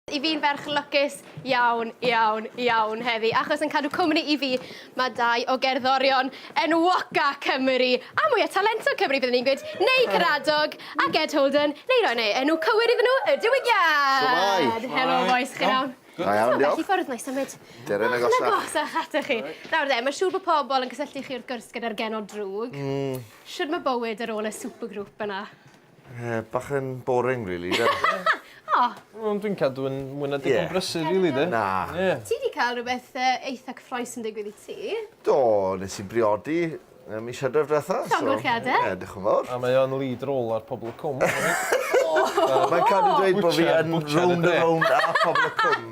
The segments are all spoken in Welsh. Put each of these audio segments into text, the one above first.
I fi'n ferch lwcus iawn, iawn, iawn heddi, achos yn cadw cwmni i fi, mae dau o gerddorion enwoca Cymru, a mwya talentog Cymru byddwn i'n gweud, neu Caradog, ac Ed Holden, neu roi neu enw cywir iddyn nhw, Y Diwygiad! Shwmae! Helo bois, chi'n iawn? Da iawn, diolch. Beth i ffwrdd, nai symud. Deren agosach. Bach yn agosach atoch chi. Nawr de, mae siŵr bod pobl yn cysylltu chi wrth gwrs gyda'r genod drwg. Mm. Shwd mae bywyd ar ôl y supergroup yna? Ie, bach yn boring rili 'de? O! Wel dwi'n cadw yn mwy na digon brysur rili 'de? Na. Ie. Ti 'di ca'l rwbeth yy eitha cyffrous yn digwydd i ti. Do, nes i briodi yy mis Hydref dwetha so... Llongyfarchiade. Ie, dioch yn fowr. A mae o'n lead role ar Pobol y Cwm. Mae'n cadw dweud bo' fi yn rownd a rownd ar Pobol y Cwm.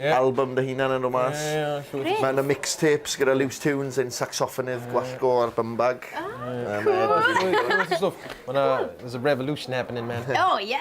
Album dy hunan yn dod mas. Ie, ie, llwyth o stwff. Mae 'na mixtapes gyda Loose Tunes, ein sacsoffonydd gwallgo ar Bumbag. Mae llwyth o stwff. Mae 'na, there's a revolution happening man. O ie!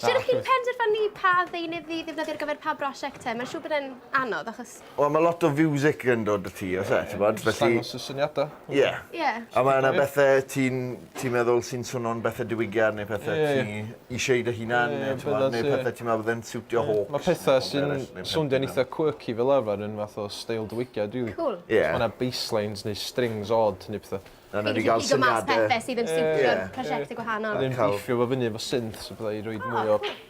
Shwt y'ch chi'n penderfynu pa ddeunydd i ddefnyddio ar gyfer pa brosiect te? Mae'n siŵr bod e'n anodd achos... Wel, mae lot o fiwsig yn dod â ti, oes e, t'bod, felly... Jyst dangos y syniadau. Ie. Ie. A mae yna bethe ti'n ti'n meddwl sy'n swnio'n bethe diwygiad neu pethe ti isie i dy hunan neu t'mod neu pethe ti'n meddwl bydde'n siwtio Hawks? Mae petha sy'n swnio'n eitha quirky fel arfer yn fath o steil diwygiad rili. Cŵl. Ie. Os ma' 'na basslines neu strings od neu petha. A newn ni ga'l syniade. Pethe sydd yn siwtio'r prosiecte gwahanol. Ie. Wedyn bithio fo fyny efo synths a petha i roid mwy o